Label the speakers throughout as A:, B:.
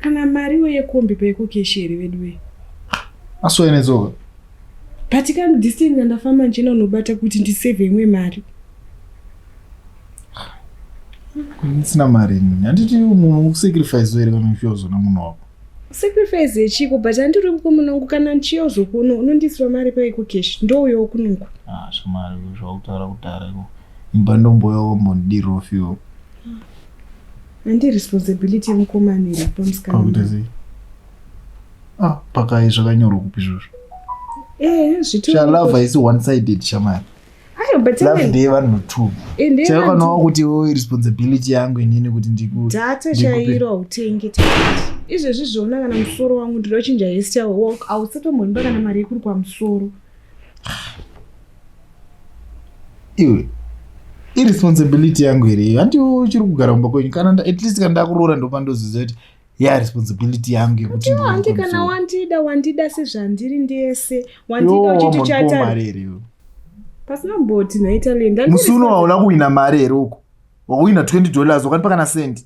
A: Kana mariwo yekombi peko keshi here veduwe? Asoya
B: nedzoka.
A: But kana distance yandafamba ndichena unobata kuti ndisave imwe mari.
B: Ndisina mari ini. Handiti munhu ukusacrifice here kana uchiozona munhu wako? Sacrifice
A: yechiko but handiri mukomana wangu kana ndichiyozokuona unondisira mari peko keshi ndouyawo kunoko. Ah, shamari
B: zvakutaura kudhara iko. Imba ndomboyawo mbondirofiwo.
A: Handi responsibility yemukomana here pamusikana? Pakuita sei?
B: Ah, pakai zvakanyorwa kupi izvozvo? Eh,
A: zvitoro. Sha love haisi
B: one sided shamari. Ayo but love
A: even ndeye vanhu two.
B: eh, ndiye Chero vanhu- kanawo kuti wo responsibility yangu inini kuti ndiku data ndikupe- chairo
A: hautenge tikiti izvezvi zvoona kana musoro wangu ndinochinja hairstyle walk hausatomboimba kana mari yekuri kwamusoro
B: iwe iresponsibility yangu here iyo hanti uchiri kugara kumba kwenyu kana at least kana ndakuroora ndopa ndoziza kuti ya responsibility yangu yekuti hanti kana wandida
A: wandida sezvandiri ndese wandida uchiti chaita
B: pasina
A: mboti nhaitalienda musi uno waona kuhwina
B: mari here uko wakuhwina 20 dollars wakanipa kana sendi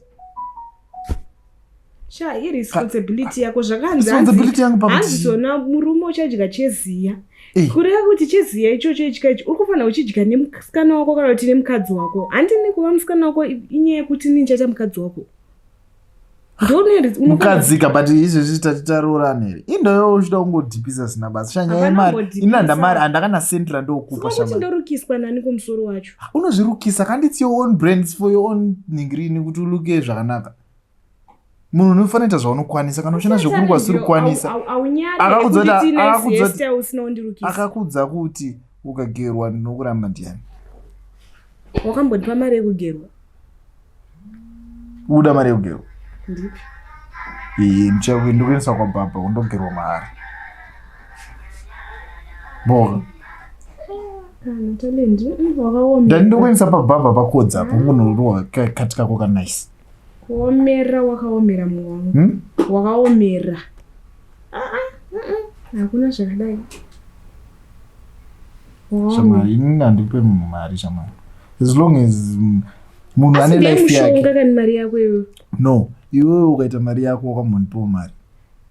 B: sha
A: iresponsibility yako zvakanziresponsibility yangu pahanzi zona murume uchadya cheziya eh. kureva kuti cheziya ichocho itya ichi uri kufanira uchidya nemusikana wako kana kuti nemukadzi wako handini kuva musikana wako inyaya yekuti ini ndichaita mukadzi wako
B: mukadzika but izvezvi tati taroorana here indoyo uchida kungodhipisa zina basa shanyaya mari inanda mari andakana senti randokupa ndorukiswa
A: nani kumusoro wacho unozvirukisa kanditsiyo
B: on brands for your own ningirini kuti uluke zvakanaka munhu unofanira ita zvaunokwanisa kana uchina zvekuri kwasiri kukwanisa akakudza kuti ukagerwa ndinokuramba ndiani
A: wakambondipa mari yekugerwa
B: uda mari yekugerwa ndichakuendekuendesa kwababa undogerwa mahari boka ndani ndokuendesa pabhabha pakodza apo ungonorova kati kako kanice kuomera
A: wakaomera mwe wangu hmm? wakaomera ah, ah, ah, hakuna zvakadai
B: shamari inini handipe munhu mari shamari as long as munhu ane life yake kani mari yako iwe
A: no iwewe
B: ukaita mari yako wakamhonipewo mari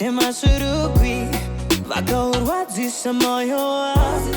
A: nemasvirugwi vakaurwadzisa moyo wavo